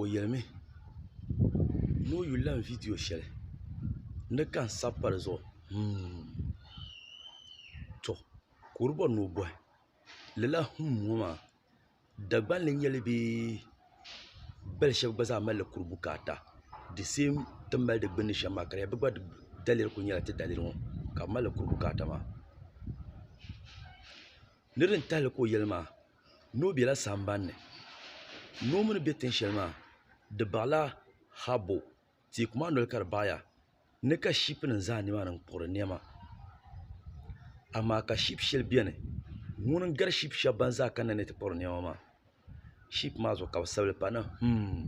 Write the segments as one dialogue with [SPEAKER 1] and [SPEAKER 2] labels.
[SPEAKER 1] o yelimi ni o yuli lan viidiyo shɛli ni ka n sabi pa di zuɣu humm tɔ ka o di bɔri ni o bɔhi lala humm ŋɔ maa Dagban li nyeli bee bali shɛba gba zaa malila kuri bukaata the same ti ni mali di gbunni shem maa ka di nya bɛ gba daliri kuli nyela ti daliri ŋɔ ka bɛ malila kuri bukaata maa niriba n tahili ka o yeli maa. Noo bela sambanni noo mi ni be tin shɛli maa di baɣila habbu teeku maa noli ka di baɣiya ni ka shipunima zaa nimaani n-kpuɣiri nɛma amaa ka shipu shɛli beni ŋuni n-gari shipu shɛba ban zaa kanna ni ti kpuɣiri nɛma maa shipu maa zuɣu ka bɛ sabili pa ni hmm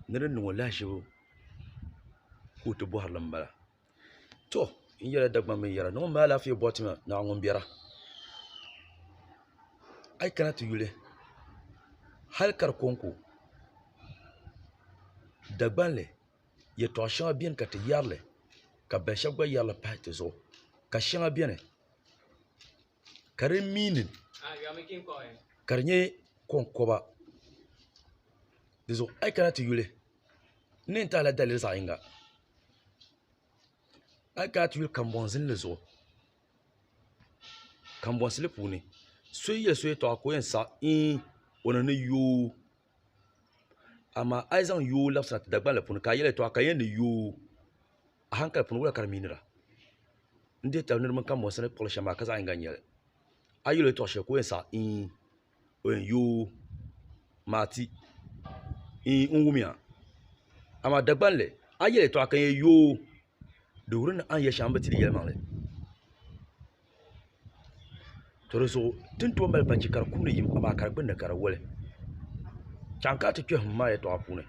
[SPEAKER 1] ni di niŋ o lahaʒibu ka o ti bɔhirili m-bala to n yɛla dagban bin yɛra ni ŋun maa lafiya bɔti ŋɔ naa ŋun bɛra a yi kana ti yuli hali ka di konko dagbanli yɛtɔɣ shɛŋa biɛni ka ti yɛrili ka bin shɛli gba yɛrili pahi dizuɣu ka shɛŋa biɛni ka di meaning ka di nyɛ konkoba di zuɣu a yi kana ti yuli n ni yɛn ti a la daliri zaɣ yinga a yi kana ti yuli kanbonsi zinli zuɣu kanbonsi lee puuni so yɛ so yɛltɔɣa ka o yɛn saɣam iin o ni ni yooi amaa a yi zaŋ yooi labisira ti dagbanli puuni ka a yɛli yɛltɔɣa ka di yɛn ni yooi A hankali puuni, wula ka di miinira? N dihi tali niriba mini kambɔnsi ni kpuɣili shɛm maa ka zaɣ yiŋga n-nyɛ li. A yi yɛl o yɛtɔɣ shɛli ka o yɛn saɣi iin! O yɛn yoo! Maa ti! Iin! N wum ya. Amaa Dagbani li, a yi yɛl yɛtɔɣa ka n yɛn yoo! Di wuri ni a ni yɛl shɛŋa n bi ti di yɛlimaŋli. To di zuɣu ti ni tooi mali balichi ka di kumdi yim amaa ka di gbunni ka di woli chaŋ ka a ti kpɛ him maa yɛltɔɣa puuni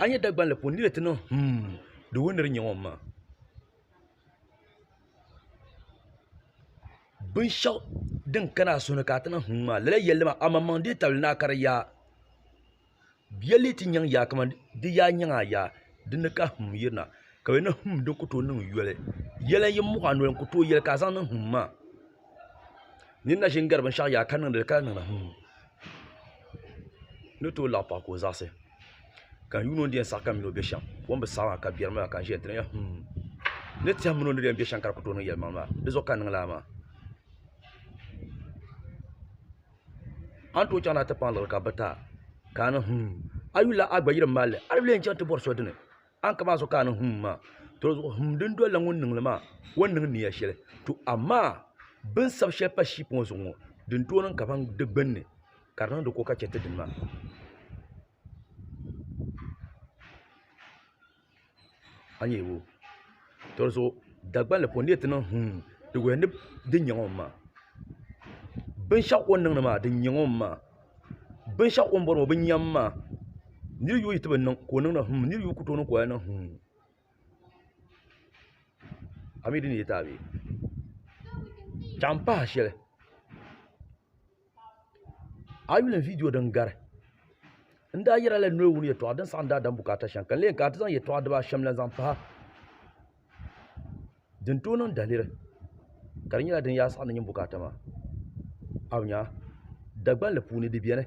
[SPEAKER 1] a ni nyɛ Dagbanli puuni n ni lee ti niŋ him di woli ni di nyɛ ŋɔ maa binshaɣu din kani a suhu ni ka a ti niŋ him maa lala yɛlli maa amaŋmaŋ deei tabili ni a kari yaa Bia lee ti nyaŋ yaa kamani di yaa nyaŋ a yaa di ni ka him yirina ka di ni him di ni ku tooi niŋ yoli yɛli n yi muɣi a noli n ku tooi yɛli ka a zaŋ niŋ him maa n ni na ʒini gari binshaɣu yaa ka niŋdi li ka di niŋdi him n ni tooi laɣi paɣa ka o zaɣisi ka n yuun o ni di yɛn saɣi ka mini o bɛ shɛm o ni bi saɣi maa ka biɛri mi maa ka n ʒiya n ti niŋya him n ni tɛha mini o ni di yɛn bɛ shɛm ka di ku tooi niŋ yɛlimaŋli maa dizuɣu ka n niŋ lala maa A ni tooi chaŋ ni a ti paŋ liɣiri ka bi ta ka a ni hum a yuli la a gba yirim malli a ni bi lee chaŋ ti bɔri so dini a ni ka maa so ka a ni hum maa tɔzuɣu hum din doli la ŋun niŋli maa o ni niŋ niya shɛli to amaa bi ni sabi shɛli pa shiip ŋɔ zuɣu ŋɔ din tooi niŋ ka ban di gbunni ka di niŋdi ko ka chɛ ti dini maa a ni yuli tɔri zuɣu Dagban li puuni a ni yuli ti niŋ huum di wuhiya ni di nyɛ ŋɔ n ma binshɛɣu o ni niŋdi maa di nyɛ ŋɔ n ma binshɛɣu o ni bɔri ŋɔ bi nya n ma n ni yuli tibi niŋ ka o niŋdi huum n ni yuli ku tooi niŋ ka o lahi niŋ huum a mi di ni yɛ taai bɛ chaŋ m pahi shɛli a yi yuli viidiyo din gari n daa yɛra la noli wuni yɛtɔɣa din saɣam daadam bukaata shɛm ka n lee kana ti zaŋ yɛtɔɣa dibaa shɛm lahi zaŋ pahi din tooi niŋ daliri ka di nyɛla din yaa saɣam ni nyin bukaata maa a bi nya dagbanli puuni di biɛni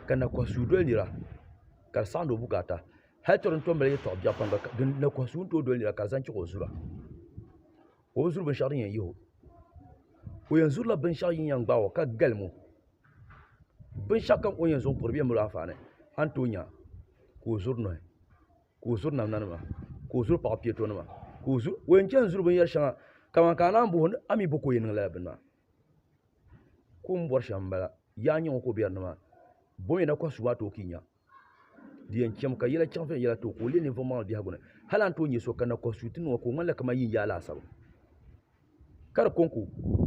[SPEAKER 1] ka na kohi suu doli nira ka di saɣandi o bukaata hali to din tom mali yɛtɔɣa biɛɣu pam gba na kohi suu ni tooi doli nira ka di zaŋ chɛŋ o zuliya ka o zuri binshɛɣu din yɛn yihi o o yɛn zurila binshɛɣu din yɛn gbaai o ka galim o binshɛɣu kam o ni yɛn zaŋ piri di yɛn mali o anfaani a ni tooi nya ka o zuri nohi ka o zuri namda nima ka o zuri paɣa piɛto nima ka o yɛn chɛŋ zuri binyɛri shɛŋa kamani ka a naan booni a mii bo ka o yɛn niŋ lala bini maa ka o ni bori shɛm n bala yaa nyɛ ŋɔ ka o biɛri nimaani bo mii na kɔhisi o maa tooi ka i nya di yɛn chɛmi ka yɛla chaŋ viɛnyɛla too ka o leei ninvuɣ maŋli biɛhigu ni. Hal a ni tooi nya so kanna kɔhi suuti nuu ŋɔ ka o ŋmanila kamani yinyaa laasabu. Ka di kɔŋko,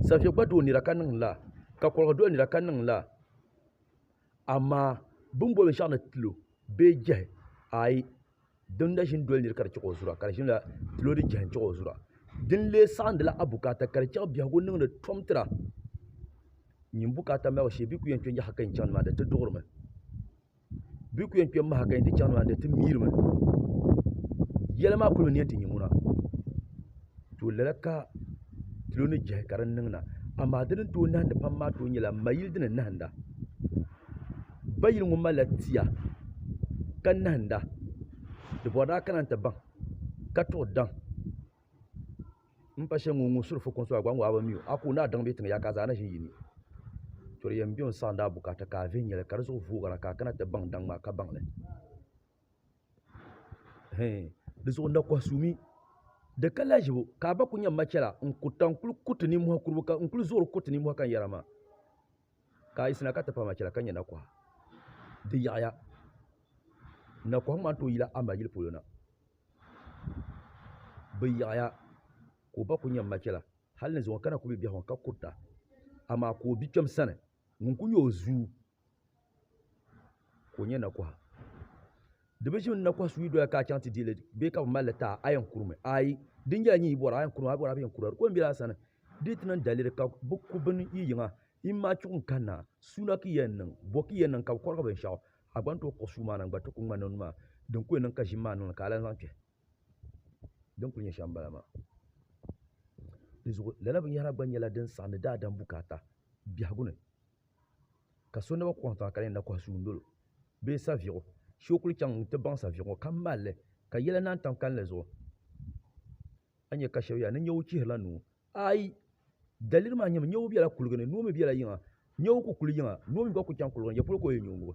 [SPEAKER 1] Saviɛ gba doo nira ka niŋ lala, ka Kɔliga doli nira ka niŋ lala. Amaa bɛ ni boli binshɛɣu ni tilo bee jɛhi, aai! doo n-na ʒini doli niri ka di chihi o zura ka di ʒinila loori jihi n-chihi o zura din lee saɣindila abukaata ka di chaŋ biɛhigu niŋdi tom tira nyin bukaata malibu shee bɛ yi kuli yɛn kpe yaha ka yɛn chaŋ nimaani di ti duɣirimi bɛ yi kuli yɛn kpe m-maha ka yɛn ti chaŋ nimaani di ti miirimi yɛli maa kuli mi ni yɛn ti nya ŋuna tooi lala ka loori jihi ka di niŋ na amaa di ni tooi nahindi pam maa tooi nyɛla m ma yili di ni nahinda Bayili ŋɔ malila tia ka nahinda di bɔri daa kana nti baŋ ka tuɣi daŋ m pa shɛli ŋun suri fukumsi maa gba ŋɔ mi o a ka o ni a daŋ bɛ tiŋ yaai ka a zaa na ʒi n yini to di yɛn be n saɣindi a bukaata ka a viɛnyɛla ka di zuɣu voogira ka a kana ti baŋ daŋ maa ka baŋ li hɛɛn di zuɣu nakɔha suu mi di ka lahiʒibu ka a ba kuli nyɛ m ma chɛla n kuli zuɣuri kuriti ninmɔhi ka n yɛra maa ka a yi sina ka ti pa ma chɛla ka nyɛ nakɔha. Di yaɣiya, nakɔha ŋɔ maa n-tooi yila a ma yili polo na. Bɛ yaɣiya ka o ba kul nyɛ m ma chɛla hal ni zuŋɔ ka na ku be biɛhigu ni ka kurita, amaa ka o bikpɛm sani ŋun kul nyɛ o zuu ka o nyɛ nakɔha. Di bi ʒi n na kɔhi suyi doya ka a chaŋ ti deei li bee ka bi mali li ti a, a yɛn kurimi? Aai! Di nyɛla nyin yi bɔra, a yɛn kurimi, a bɔra a bi yɛn kura. Di ko m-bela a sani di yi ti niŋ daliri ka bɛ ku bini yi yiŋa, yim maa chuɣu n-kanna. Suuna ka yi yɛn niŋ? Bɔ ka yi yɛn niŋ ka bɛ kɔrigi binshɛɣu? A gba ni tooi kpuɣi suu maa na n-gba ti ku ŋmanila o ni maa din ku yɛn niŋ ka ʒim maa niŋli ka a lan zaŋ kpɛhi. Din kuli nyɛ shɛm m-bala maa. Di zuɣu lala binyɛhira gba nyɛla din saɣindi daadam bukaata biɛhigu ni. ka so naba kɔhi tiŋa ka di yɛn na kɔhi suundolo bee saviɣu shee o kuli chaŋ n-ti baŋ saviɣu ŋɔ ka mali li ka yɛla naai tam kalinli zuɣu a ni nya ka shɛba yɛli ni nyawu chihirila nuu aai daliri maa nyɛmi nyawu bela kuliga ni noo mi bela yiŋa nyawu ku kuli yiŋa noo mi gba kuli chaŋ kuliga ni ya polo ka o yɛn nyo n-ŋubi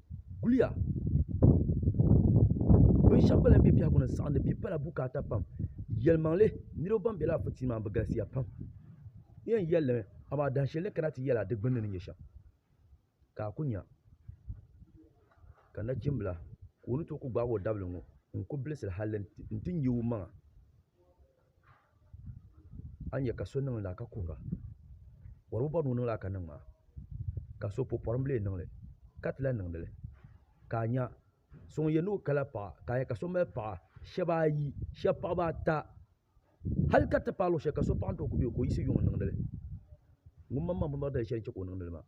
[SPEAKER 1] guliya bin shɛba gba lahi bɛ biɛhigu ni n saɣindi bia pala bukaata pam yɛlimaŋli niriba ban bɛ lala pɔtɔyin maa ni bi galisiya pam n yɛn yɛli li mi amaa dahin shɛli ni kana ti yɛli a di gbunni ni nyɛ shɛm ka a ku nya ka nachimbila ka o ni tooi ku gbaagi o dabili ŋɔ n ku bilisira hali n ti nya o maŋa. a ni yɛ ka so niŋ lala ka kuhira bɔr bi bɔri ni o niŋ lala ka niŋ maa ka so pɔpɔrinbili niŋli ka ti lahi niŋdi li ka a nya so ŋun yɛn ni o kala paɣa ka a yɛ ka so mali paɣa shab ayi shab paɣaba ata hal ka ti paai luɣ shɛli ka so paɣa ni tooi ku bɛ o ka o yiɣisi yuŋ n niŋdi li ŋun maŋmaŋ bi mali dali shɛli n chɛ ka o niŋdi li maa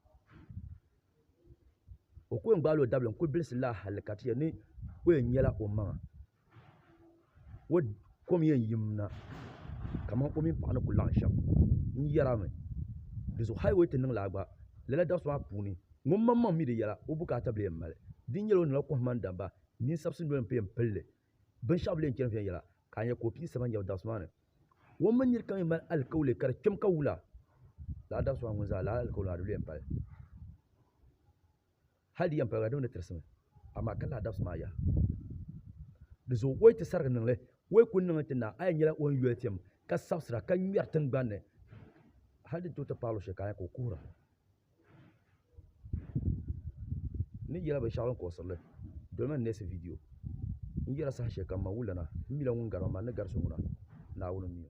[SPEAKER 1] o ku yɛn gbaala o dabili n kuli bilisi lala hali ka ti yɛli ni o yɛn nyɛla o maŋa kom yɛn yim na kamani o mini paɣa ni ku laɣam shɛm n yɛra mi dizuɣu hal bi ti niŋ laa gba lala dabisi maa puuni ŋun maŋmaŋ mii di yɛla o bukaata bili yɛn mali di ni nyɛla o niŋla kohamma ni damma ninsabisi noli n pun yɛn pilli binshaɣu bili yɛn chɛni viɛnyɛla ka a nyɛ ka o pii saba n yɛbi dabisi maa ni o mini niraba kam yɛn mali alikauli ka di kpɛm ka wula laa dabisi maa ŋun zaa lala alikauli maa di lu yɛn pali Hal di yɛn paliga di mi ni tirisimi, amaa ka lahi dabisi maa yaha. Di zuɣu o yi ti sarigi niŋ li, o yi kul niŋli ti na, a yɛn nyɛla o ni yoli piɛm ka sabisira ka ŋmɛri tiŋgbani ni hal din tooi ti paai luɣishɛli ka a nya ka o kuhira ni yɛla binshɛɣu din kuɣisiri li. Dolimi n neesi vidiyo N yɛla sahashɛlikam ma wulana, m mila ŋun gari ma, man ni gari so ŋuna, Naawuni m-mi o.